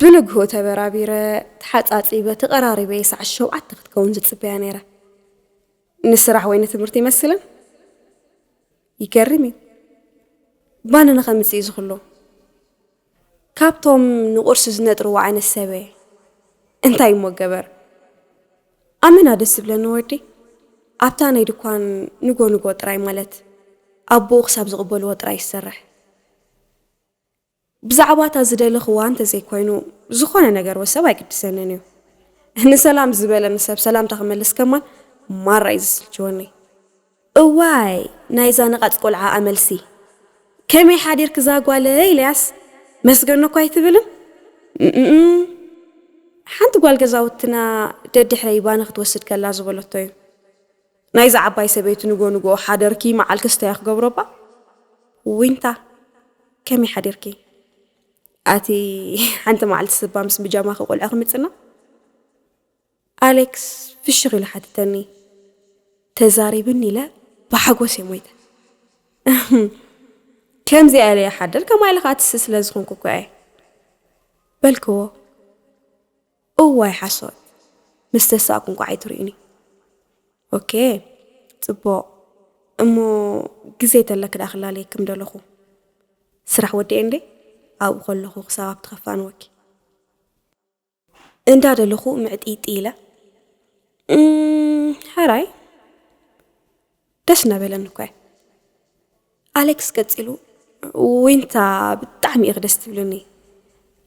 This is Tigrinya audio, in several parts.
ብንግሆ ተበራቢረ ተሓጻጺበ ተቐራሪበ እየ ሰዓት ሸውዓተ ክትከውን ዝጽበያ ነይረ። ንስራሕ ወይ ንትምህርቲ ይመስለን ይገርም እዩ ባንነ ከምጽእ እዩ ዝኽሎ ካብቶም ንቁርሲ ዝነጥርዎ ዓይነት ሰብ'የ እንታይ እሞ ገበር ኣመና ደስ ዝብለኒ ወዲ ኣብታ ናይ ድኳን ንጎ ንጎ ጥራይ ማለት ኣቡኡ ክሳብ ዝቅበልዎ ጥራይ ዝሰርሕ ብዛዕባ እታ ዝደለኽዋ እንተዘይኮይኑ ዝኾነ ነገር ወ ሰብ ኣይግድሰንን እዩ ንሰላም ዝበለኒ ሰብ ሰላምታ ክመልስ ከማን ማራ እዩ ዝስልችወኒ። እዋይ ናይዛ ነቓጽ ቆልዓ ኣመልሲ ከመይ ሓዲርኪ ዛጓለይ ኢለያስ መስገኖ እኳ ኣይትብልን እም ሓንቲ ጓል ገዛውትና ደድሕረይ ባኒ ክትወስድ ከላ ዝበለቶ እዩ ናይዛ ዓባይ ሰበይቲ ንጎ ንጎ ሓደርኪ መዓል ክስታያ ክገብሮባ ዊንታ ከመይ ሓዲርኪ ኣቲ ሓንቲ መዓልቲ ስባ ምስ ብጃማኺ ቆልዑ ክምጽና ኣሌክስ ፍሽኽ ኢሉ ሓተተኒ። ተዛሪብኒ ኢለ ብሓጎስ እየ ሞይተ። እህም! ከምዚኣ ኢለ ይሓድር ከማይ ኢለ ከኣ ትስእ ስለ ዝኾንኩ እኮ እየ። በልክዎ። እዋይ ሓሶት! ምስ ተሳእኩ እንቋዕ ኣይትርእዩኒ። ኦኬ! ጽቡቕ! እሞ ግዜ ተለኪ ደኣ ክላለየኪ ምደለኹ። ስራሕ ወዲኤ እንድየ፣ ኣብኡ ከለኹ ክሳብ ኣብቲ ከፋንወኪ። እንዳደለኹ ምዕጢጢ ኢለ ሕራይ ደስ እናበለኒ እኮ እየ ኣሌክስ ቀፂሉ ዊንታ ብጣዕሚ ኢኺ ደስ ትብልኒ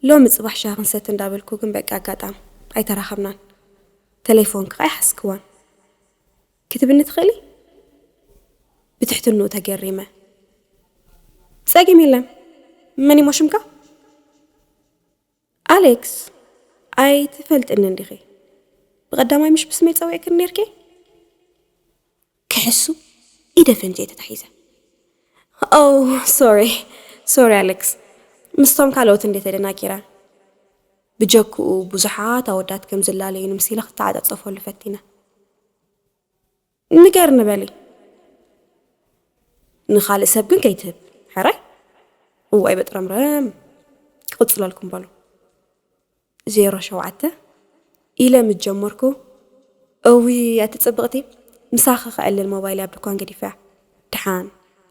ሎሚ ፅባሕ ሻሂ ክንሰቲ እንዳበልኩ ግን በቂ ኣጋጣም ኣይተራኸብናን ተሌፎን ከዓ ኣይሓዝክዋን ክትብኒ ትኽእሊ ብትሕትንኡ ተገሪመ ፀገም የለን መን ይሞ ሽምካ ኣሌክስ ኣይትፈልጥንን ዲኺ ብቀዳማይ ምሽ ብስመይ ጸዊዕክኒ ኔርኪ? ክሕሱ ኢደ ፈንጀይ ተታሒዘ። ኦው ሶሪ ሶሪ ኣሌክስ ምስቶም ካልኦት እንዴ ተደናጊረ ብጀክኡ ብዙሓት ኣወዳት ከም ዝላለዩኒ ምስ ኢለ ክተዓጻጸፈሉ ፈቲነ። ንገርኒ በሊ ንኻልእ ሰብ ግን ከይትህብ ሕራይ እዋይ በጥረምረም ክቕፅለልኩም በሉ ዜሮ ሸውዓተ ኢለ ምስ ጀመርኩ እዊ ኣቲ ፅብቕቲ ምሳኺ ክዕልል ሞባይል ኣብ ድኳን ገዲፈያ ድሓን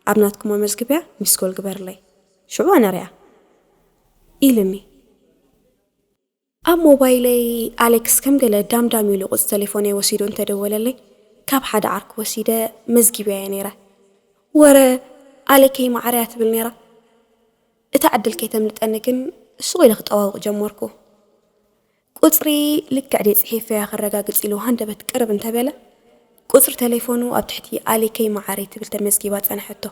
ኣብ ናትኩም ኣመዝግብያ ሚስኮል ግበርለይ ሽዑ ኣነርያ ኢልኒ ኣብ ሞባይለይ ኣሌክስ ከም ገለ ዳምዳም ኢሉ ቁጽ ተሌፎነይ ወሲዱ እንተ ደወለለይ ካብ ሓደ ዓርኩ ወሲደ መዝጊበያዮ ነይረ። ወረ ኣሌከይ ማዓረያ ትብል ነይራ። እታ ዕድል ከይተምልጠኒ ግን ሱቕ ኢለ ክጠዋውቕ ጀመርኩ። ቁጽሪ ልክዕ ድየ ጽሒፈያ ከረጋግጽ ኢሉ ሃንደበት ቅርብ እንተ በለ ቁጽሪ ተሌፎኑ ኣብ ትሕቲ ኣሌከይ ማዓረይ ትብል ተመዝጊባ ጸንሐቶ።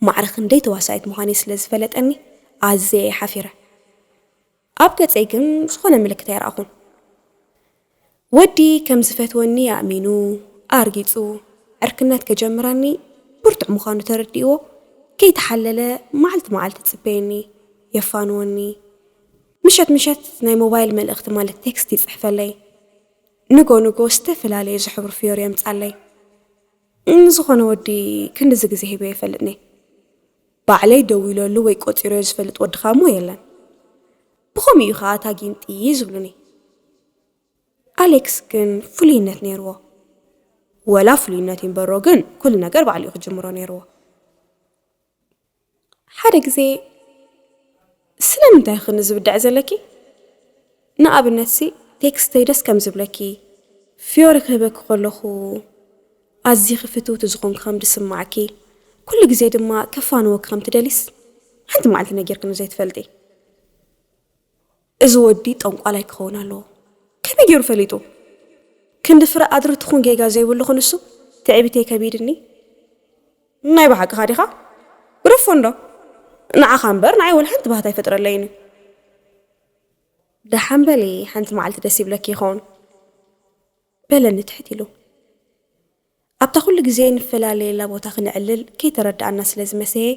ማዕረ ክንደይ ተዋሳኢት ምዃነይ ስለ ዝፈለጠኒ ኣዝየ እየ ሓፊረ። ኣብ ገጸይ ግን ዝኾነ ምልክት ኣይረኣኹን። ወዲ ከም ዝፈትወኒ ኣእሚኑ፣ ኣርጊጹ፣ ዕርክነት ከጀምረኒ ብርቱዕ ምዃኑ ተረዲእዎ፣ ከይተሓለለ መዓልቲ መዓልቲ ይጽበየኒ፣ የፋንወኒ። ምሸት ምሸት ናይ ሞባይል መልእኽቲ ማለት ቴክስት ይጽሕፈለይ። ንጎ ንጎ ዝተፈላለዩ ዝሕብሩ ፍዮሪ የምጻለይ። ንዝኾነ ወዲ ክንድዚ ግዜ ሂበዮ ኣይፈልጥን'የ። ባዕለይ ደዊለሉ ወይ ቆጺረዮ ዝፈልጥ ወድኻ'ሞ የለን። ብኸምኡ እዩ ከኣ እታ ጊንጢ ዝብሉኒ። ኣሌክስ ግን ፍሉይነት ነይርዎ። ወላ ፍሉይነት ይንበሮ ግን ኩሉ ነገር ባዕሉ'ዩ ክጅምሮ ነይርዎ። ሓደ ግዜ ስለምንታይ ኢኺ ንዝብድዐ ዘለኪ ንኣብነትሲ ቴክስተይ ደስ ከም ዝብለኪ ፍዮሪ ክህበኪ ከለኹ ኣዚኺ ፍትውቲ ዝኾንኪ ከም ድስማዕኪ ኩሉ ግዜ ድማ ከፋንወኪ ከም ትደሊስ ሓንቲ መዓልቲ ነጊርክኒ ዘይትፈልጢ እዚ ወዲ ጠንቋላይ ክኸውን ኣለዎ ከመይ ጌሩ ፈሊጡ ክንዲ ፍረ ኣድሪ ትኹን ጌጋ ዘይብሉ ክንሱ ትዕቢተይ ከቢድኒ ናይ ብሓቅኻ ዲኻ ግደፎ እንዶ ንዓኻ እምበር ንዓይ ወላ ሓንቲ ባህታ ኣይፈጥረለይን እዩ። ደሓን በሊ ሓንቲ መዓልቲ ደስ ይብለኪ ይኸውን በለኒ ትሕት ኢሉ። ኣብታ ኩሉ ግዜ ንፈላለየላ ቦታ ክንዕልል ከይተረድኣና ስለ ዝመሰየ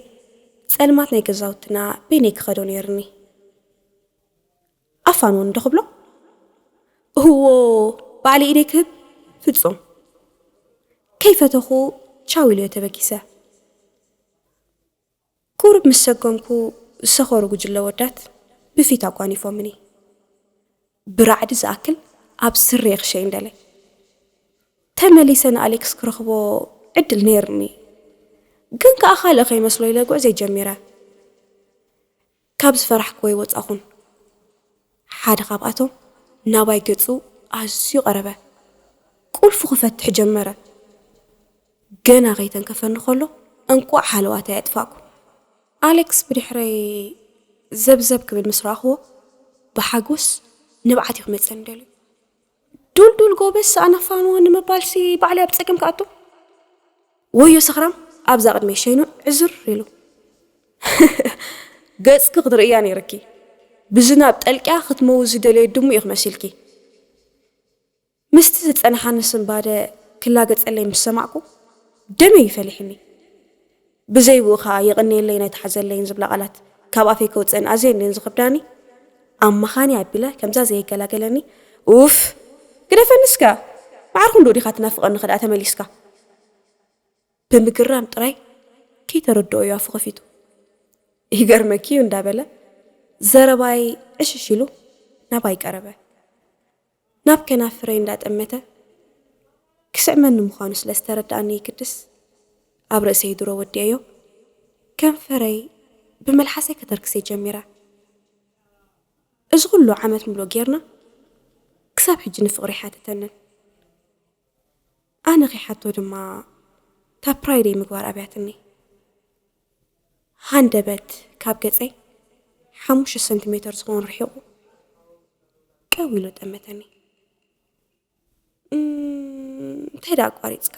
ጸልማት ናይ ገዛውትና በይነይ ክኸዶ ነይርኒ። ኣፋን ውን ዶ ክብሎ እህዎ ባዕለይ ኢደይ ክህብ ፍጹም ከይፈተኹ ቻው ኢለዮ ተበጊሰ። ቁሩብ ምስ ሰጎምኩ ዝሰኸሩ ጉጅለ ወዳት ብፊት ኣጓኒፎምኒ። ብራዕዲ ዝኣክል ኣብ ስረየ ክሸይን ደለየ። ተመሊሰ ንኣሌክስ ክረኽቦ ዕድል ነይርኒ ግን ከኣ ካልእ ከይመስሎ ኢለ ጉዕዘይ ጀሚረ። ካብ ዝፈራሕክዎ ኣይወጻኹን። ሓደ ካብኣቶም ናባይ ገጹ ኣዝዩ ቀረበ። ቁልፉ ክፈትሕ ጀመረ። ገና ከይተንከፈኒ ከሎ እንቋዕ ሃለዋተይ ኣጥፋእኩ። ኣሌክስ ብድሕረይ ዘብዘብ ክብል ምስ ረኣኽዎ ብሓጎስ ንብዓት እዩ ክመጸኒ ደልዩ። ዱልዱል ጎበዝ ሳእና ፋኖ ንምባልሲ ባዕለይ ኣብ ጸገም ክኣቱ ወዮ ሰኽራም ኣብዛ ቅድመይ ሸይኑ ዕዝር ኢሉ ገጽኪ ክትርእያ ነይርኪ ብዝናብ ጠልቅያ ክትመውት ዝደለየት ድሙ ኢኺ መሲልኪ ምስቲ ዝጸንሓኒ ስንባደ ክላገጸለይ ምስ ሰማዕኩ ደመይ ፈሊሕኒ ብዘይብኡ ከኣ የቐንየለይን ኣይትሓዘለይን ዝብላ ቃላት ካብ ኣፈይ ከውጽእን ኣዝየን ድየን ዝኸብዳኒ? ኣማኻኒ ኣቢለ ከምዛ ዘይገላገለኒ ኡፍ! ግደፈኒ እስከ! መዓር ክንድኡ ዲኻ ትናፍቐኒ ከድኣ ተመሊስካ? ብምግራም ጥራይ ከይተረድኦ እዩ ኣፉ ከፊቱ። ይገርመኪ እዩ እንዳበለ ዘረባይ ዕሽሽ ኢሉ ናባይ ቀረበ። ናብ ከናፍረይ እንዳጠመተ ክስዕመኒ ምዃኑ ስለ ዝተረደኣኒ ይግድስ ኣብ ርእሰይ ድሮ ወዲኤዮ ከንፈረይ ብመልሓሰይ ከተርክሰይ ጀሚረ። እዚ ኹሉ ዓመት ምሉእ ጌርና ክሳብ ሕጂ ንፍቕሪ ኣይሓተተንን። ኣነ ከይሓቶ ድማ ታፕራይደይ ምግባር ኣብያትኒ። ሃንደበት ካብ ገጸይ ሓሙሽተ ሰንቲሜተር ዝኸውን ርሒቑ ቀው ኢሉ ጠመተኒ። እንታይ ደኣ ኣቋሪጽካ?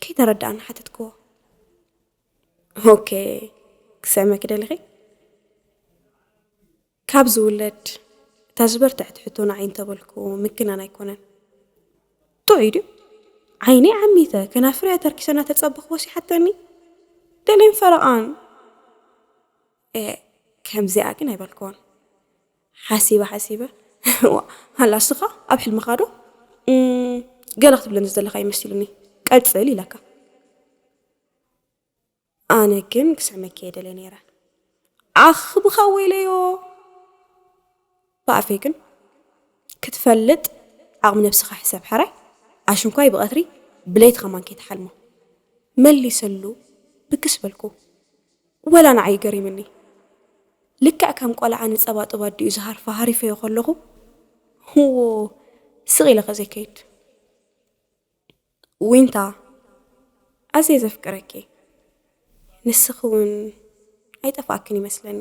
ከይተረድኣኒ ሓተትክዎ። ኦኬ ክሰምኪ ደሊኺ? ካብ ዝውለድ እታ ዝበርትዐት ሕቶ ንዓይ እንተበልኩ ምግናን ኣይኮነን። ጥዑይ ድዩ? ዓይነይ ዓሚተ ከናፍረይ ኣተርኪሰ እናተጸበኽዎስ ይሓተኒ ገሌን ፈረቓን። ኤእ ከምዚኣ ግን ኣይበልክዎን። ሓሲበ ሓሲበ እዋ ሃላ እስኻ ኣብ ሕልምኻዶ ገለ ክትብለኒ ዝደለኻ እዩ መሲሉኒ ቀጽል ኢለካ። ኣነ ግን ክስዕመኪ እየ ደልየ ነይረ ኣኽብኻ ወይለዮ ብኣፌ ግን ክትፈልጥ ዓቕሚ ነብስኻ ሕሰብ ሓራይ ኣሽንኳይ ብቐትሪ ብለይቲ ከማን ከይትሓልሞ መሊሰሉ ብግስ በልኩ ወላ ንዓይ ገሪምኒ ልክዕ ከም ቆልዓ ንጸባጥብ ኣዲኡ ዝሃርፋ ሃሪፈዮ ከለኹ ህዎ ስቕ ኢለ ከዘይከይድ ዊንታ ኣዝየ ዘፍቅረኪ ንስኺ ውን ኣይጠፋእክን ይመስለኒ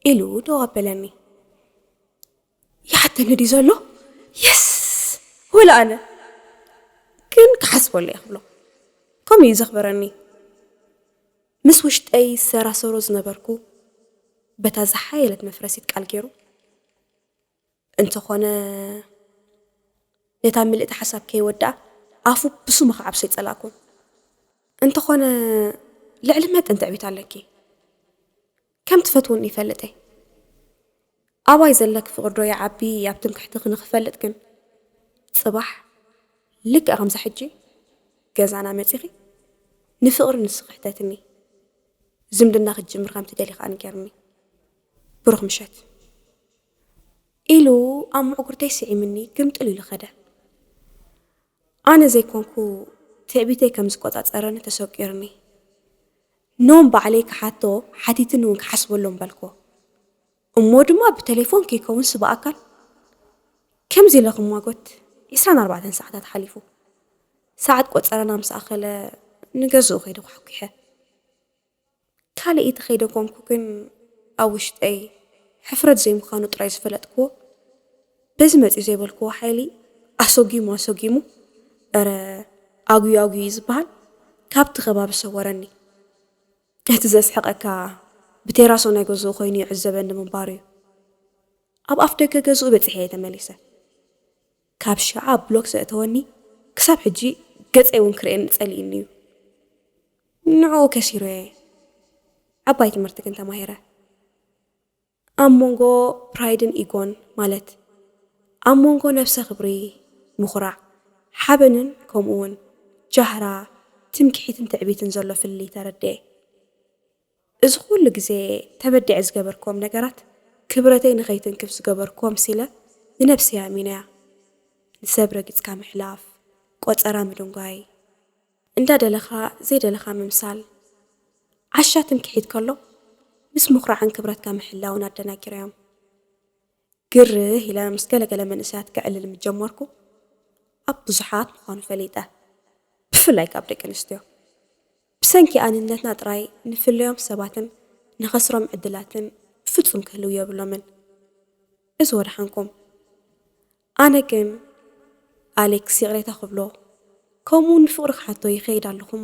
ኢሉ ደው ኣበለኒ። ይሓተኒ ድዩ ዘሎ የስ ወላ ኣነ ግን ክሓስበሉ እየ ክብሎ ከምኡ እዩ ዘኽበረኒ። ምስ ውሽጠይ ዝሰራሰሮ ዝነበርኩ በታ ዝሓየለት መፍረሲት ቃል ገይሩ እንተኾነ ነታ ምልእቲ ሓሳብ ከይወድኣ ኣፉ ብስሙ ክዓብሶ ይጸላእኩ። እንተኾነ ልዕሊ መጠን ትዕቢት ኣለኪ። ከም ትፈትውኒ ይፈልጥ እየ። ኣባይ ዘለኪ ፍቕሪ ዶ ይዓቢ ኣብ ትምክሕትኺ ንኽፈልጥ ግን ጽባሕ ልክዕ ከምዛ ሕጂ ገዛና መጺኺ ንፍቕሪ ንስኺ ሕተትኒ ዝምድና ክትጅምር ከም ትደሊ ከኣ ንገርኒ። ብሩኽ ምሸት! ኢሉ ኣብ ምዕጉርተይ ስዒሙኒ ግምጥል ኢሉ ከደ። ኣነ ዘይኮንኩ ትዕቢተይ ከም ዝቆጻጸረኒ ተሰቂሩኒ። ኖም ባዕለይ ክሓቶ ሓቲትኒ ውን ክሓስበሎም በልክዎ። እሞ ድማ ብተሌፎን ከይከውንስ ብኣካል? ከምዚ ኢለ ክሟጎት ዕስራን ኣርባዕተን ሰዓታት ሓሊፉ። ሰዓት ቆጸረና ምስ ኣኸለ ንገዝኡ ከይደ ኳሕኲሐ። ካልኢት ኸይደገምኩ ግን ኣብ ውሽጠይ ሕፍረት ዘይምዃኑ ጥራይ ዝፈለጥክዎ በዚ መጺኡ ዘይበልክዎ ሓይሊ ኣሶጊሙ ኣሶጊሙ እረ ኣጉዩ ኣጉዩ እዩ ዝበሃል ካብቲ ከባቢ ሰወረኒ። እቲ ዘስሕቐካ ብቴራሶ ናይ ገዝኡ ኮይኑ ይዕዘበኒ ምንባሩ እዩ። ኣብ ኣፍደገ ገዝኡ በጺሐ እየ ተመሊሰ። ካብ ሽዓ ብሎክ ዘእተወኒ ክሳብ ሕጂ ገጸይ ውን ክርእየኒ ጸሊኡኒ ዩ ንዕኡ ከሲሩ እየ ዓባይ ትምህርቲ ግን ተማሂረ ኣብ ሞንጎ ፕራይድን ኢጎን ማለት ኣብ ሞንጎ ነብሰ ክብሪ ምኹራዕ ሓበንን ከምኡ ውን ጃህራ ትምኪሒትን ትዕቢትን ዘሎ ፍልልይ ተረዲኤ። እዚ ኩሉ ግዜ ተበዲዐ ዝገበርክዎም ነገራት ክብረተይ ንኸይትንክፍ ዝገበርክዎም ሲለ ንነብሰይ ኣሚነያ ንሰብ ረጊጽካ ምሕላፍ ቆጸራ ምድንጓይ፣ እንዳ ደለኻ ዘይደለኻ ምምሳል፣ ዓሻ ትምክሒት ከሎ ምስ ምኹራዕን ክብረትካ ምሕላውን ኣደናጊረዮም። ግርህ ኢለ ምስ ገለ ገለ መንእሰያት ከዕልል ምስ ጀመርኩ፣ ኣብ ብዙሓት ምዃኑ ፈሊጠ። ብፍላይ ካብ ደቂ ኣንስትዮ። ብሰንኪ ኣንነትና ጥራይ ንፍለዮም ሰባትን ንኸስሮም ዕድላትን ብፍጹም ክህልው የብሎምን። እዚ ወደሓንኩም። ኣነ ግን ኣሌክስ ይቕሬታ ክብሎ ከምኡውን ንፍቕሩ ክሓቶ ይኸይድ ኣለኹ'ሞ፣